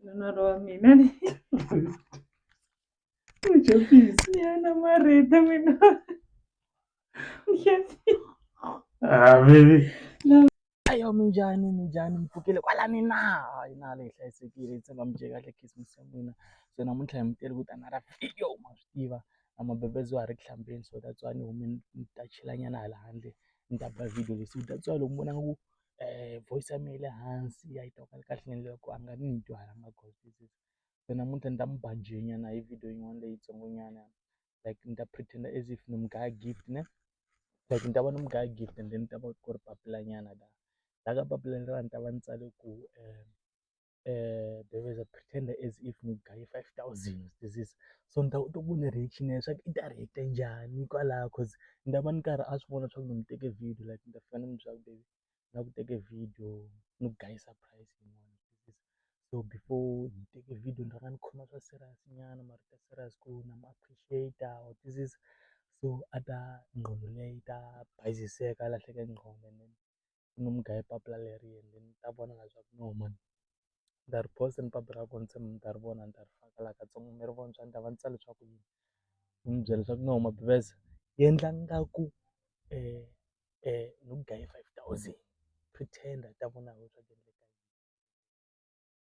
Nonoro wa mina ni Uchapisi. ni yana marita mina. Ah, baby. Ayo minjani minjani mpfukile kwala ni na hayi na leyi hlayisekile yi tshemba mi kahle khisimusi ya n'wina so namuntlha hi mi tele ku ta na ra video ma swi tiva na mabebezo a ri ku hlambeni so that's why ni hume ni ta chilanyana hala handle ni ta ba video leyi so that's why loko mi vonaka ku um voice ya mehe yi le hansi a yi twakali kahle ni endlela ku a nga ni ni dyuhalanga goal this is se namuntlha ni ta n'wi ba njhenyana hi video yin'wana leyitsongo nyana like ni ta pretend as if ni n'wi gaya gift ne like ni ta va ni n'wi gaya gift and then ni ta va ku ri papila nyana la la ka papila leriya ni ta va ni tsale ku um um there was a pretender as if ni gaye five thousand this is so ni ta kota ku vona reaction ya leswaku i ta react-a njhani hikwalaho cause ni ta va ni karhi a swi vona leswaku ni n'wi teke video like ni ta fika ni n'wi byela ku baby na ku teke video ni ku gayisa price yin'wana so before ni teke video ni rhanga ni khoma swa serious nyana mara ta serious ku na mi appreciate-a or this is so a ta nqondo leyi ta bayiziseka a lahleka nqondo and then ni nga mu gayi papila leri ende ni ta vona na swaku no mani ni ta ri post-a ni papila ra ko ni tshemba mi ta ri vona ni ta ri faka la katsongo mi ri vona swa endleka va ni tsale swaku yini ni mi byela swaku no Mabhivese yendla ngaku ni ku gaye five thousand pretender i ta vona hi wena swaku .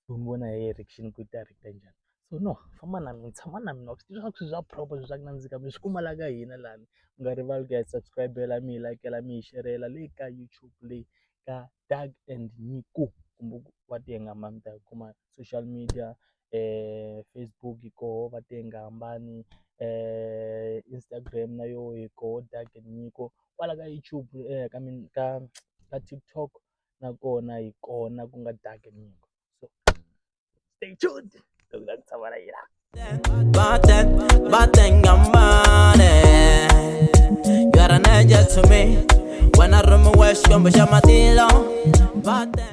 u n'wi vona hi yona direction ku yi ta rheta njhani. So no famba na mina tshama na mina wa swi tiva swa ku swilo swa proper swilo swa ku nandzika mi swi kuma laha ka hina lani. Mi nga rivali ku ya hi subscribe-ela, mi hi like-ela, mi hi share-ela le ka YouTube leyi ka Doug and Nyiko kumbe ku va ti hambana mi ta yi kuma social media Facebook yi koho va ti hambani Instagram na yona yi koho Doug and Nyiko kwala ka YouTube ka ka ka TikTok. nakona hi kona ku nga dark nyimpi so stay tuned loko ta ku tshama na yena Batten, batten ngamane You are an angel to me When I run my west, come with your matilo Batten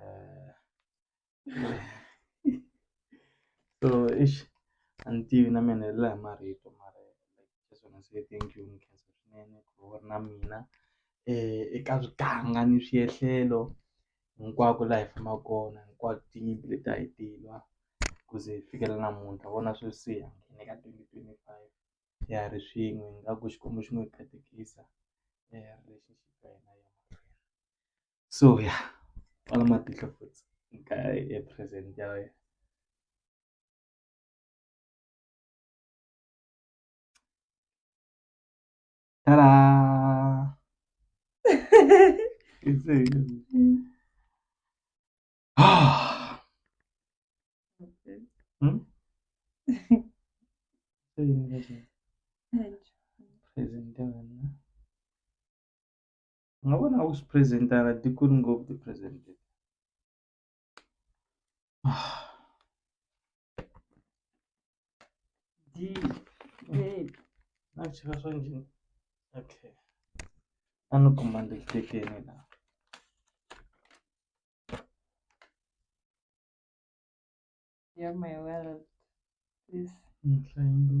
Äh, so ich anti na mina hi laha marito mara just wanna say thank you nkhensa swinene ku va u ri na mina um eka swiganga ni swiendlelo hinkwako laha hi fambaka kona hinkwato tinyimpi leti a hi ti lwa ku ze hi fikela namuntlha hi vona sweswi hi nghene ka twenty twenty five hi ya ri swin'we ingaku xikwembu xi ngo hi katekisa hi ya relationship ya hina yi ya mahlweni. so ya kwala matihlo futhi ka e-present ya wena ta-da Ah. Hmm? Presente, ¿verdad? U nga vona u swi present-a a ti koti ngopfu ku ti present-a a ni cheka swa njhani okay a ni kuma ni ri tekeni la ya mehe wa ntlangu.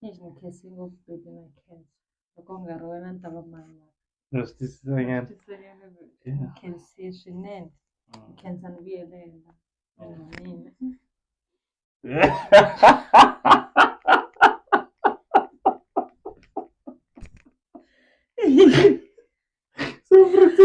Ni nga khensi ngopfu baby na khensa loko u nga ri wena ni ta va mani wa Na swi twisisa nyana. Tisanyana ni Yeah. khensiye swinene Mm. ni khensa ni vuyelela munhu wa mina So pretty.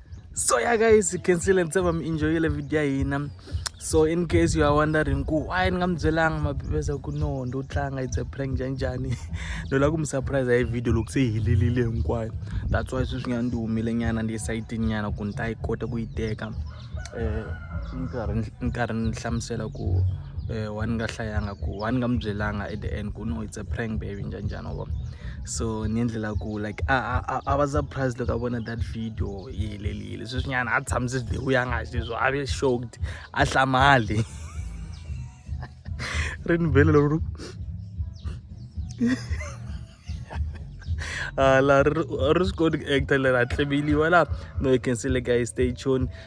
so yeah guys you can see let's have um, enjoy the video hina so in case you are wondering ku why ni nga mi byelanga mabibeza ku no ndo tlanga it's a prank njhani njhani no lava ku mi surprise hi video loko se yi helelile hinkwayo that's why sweswi nga ndi humile nyana ndi esayitini nyana ku ni ta yi kota ku yi teka um ni karhi ni hlamusela ku um wa ni nga hlayanga ku wa ni nga mi byelanga at the end ku no it's a prank baby njhani njhani wa vona so ni endlela ku like a a a va surprise loko a vona that video yi helelile sweswinyana a tshamise video ya nga xi leswo a ve shocked a hlamali ri ni vele loko hala ri swi koti ku actor leri a tleveliwa laha no you can see le guy stay tuned